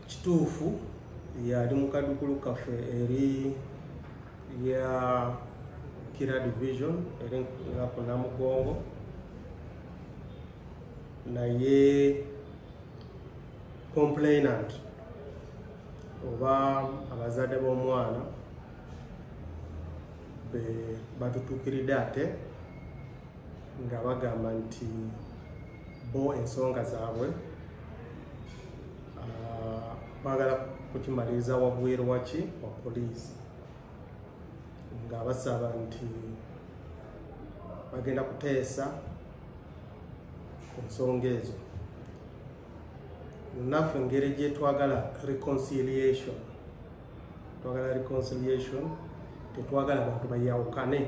kituufu yali mu kadukulu kaffe eri ya kira division eri nga ku namugongo naye complainant oba abazadde b'omwana batutuukiridde ate nga bagamba nti bo ensonga zaabwe ah, bagala kukimaliriza wabweru waki wa poliisi nga basaba nti bagenda kuteesa ku nsonga ezo naffe engeri gyetwagala reconciliation twagala reconciliation tetwagala bantu bayawukane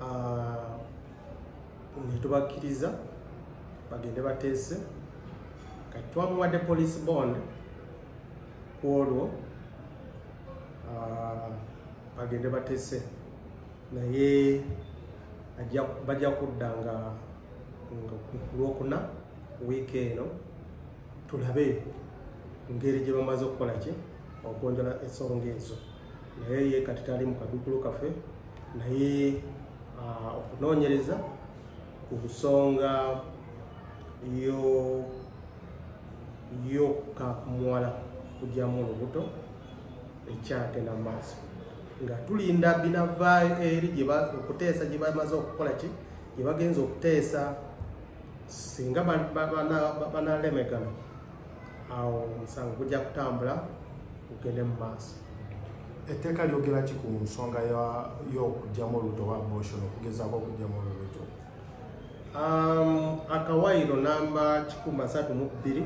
ah, netubakkiriza bagende bateese kati twamuwadde police bond ku olwo ah, bagende bateese naye bajja kudda nga kulwokuna wiiki eno tulabe ngeri gye bamaze okukola ki ogonjola ensonga ezo naye ye kati tali mu kadukulu kafe naye ah, okunoonyereza ku nsonga yokamuwala kugyamu olubuto ekyagenda mu maaso nga tulinda binava eri okuteesa gye bamaze okukola ki gye bagenza okuteesa singa banalemegana awo omusango gujja kutambula gugende mu maaso etteeka lyogera ki ku nsonga y'okugyamu olubuto oba abortion okugezaako okugyamu olubuto um, akawayiro namba kikuma satu mu bbiri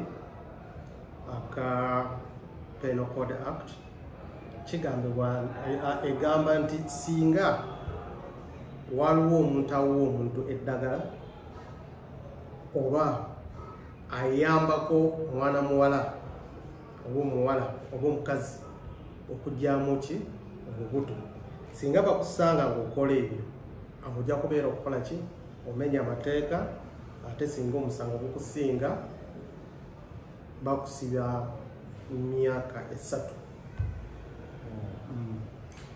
aka penal code act kigambibwa eh, eh, egamba nti singa waliwo omuntu awuwa omuntu eddagala oba ayambako mwana muwala oba omuwala oba omukazi okugyamu ki obubuto singa bakusanga ngaokola ebyo amuja kubeera okukola ki omenya amateeka ate singa omusango gukusinga bakusiba myaka esatu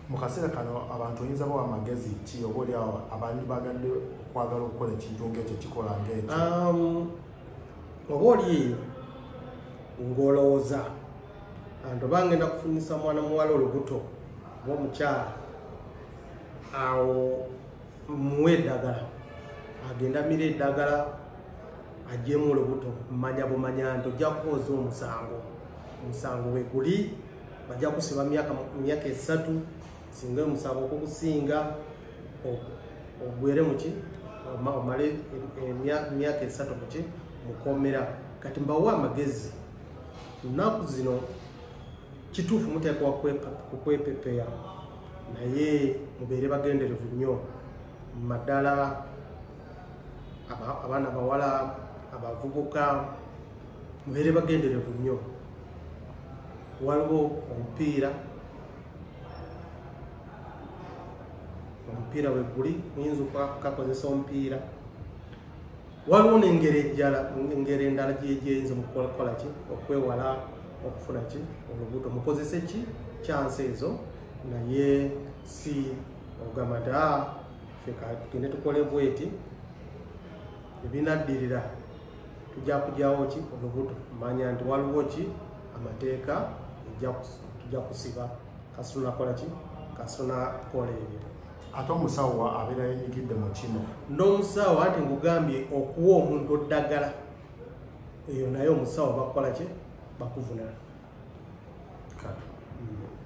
mu kaseera kano abantu oyinza bawa amagezi ki oba oliawo abantu bagadde okwagala okukola ekintu ngaekyo kikola ngaekyo um, oba oli ng'olowooza anti oba ngenda kufunyisa mwana muwala olubuto oba omukyala awo muwe eddagala agenda mira eddagala ajemu olubuto manya bumanya nti ojja kukooza omusango omusango weguli bajja kusiba myaka esatu singa omusango okukusinga ogwere muki omale emyaka esatu muki mukomera kati mbawa amagezi nnaku zino kituufu muteekwa kukwepepeya naye mubeere bagenderevu nnyo maddala abaana abawala abavubuka mubeere bagenderevu nnyo waliwo omupiira omupiira weguli oyinza okakozesa omupiira waliwo nengeri ejala engeri endala gyegyeyinza mukukola ki okwewala okufuna ki olubuto mukozese ki kyansi ezo naye si ogamadaa tugende tukole bweti ebinaddirira tujja kugyawo ki olubuto manya nti waliwo ki amateeka tujja kusiba kasunakola ki kasunakola ebyo ate omusawo abeera yenyigidde mu kino n'omusawo anti ngugambye okuwa omuntu oddagala eyo naye omusawo bakukola ki bakuvunana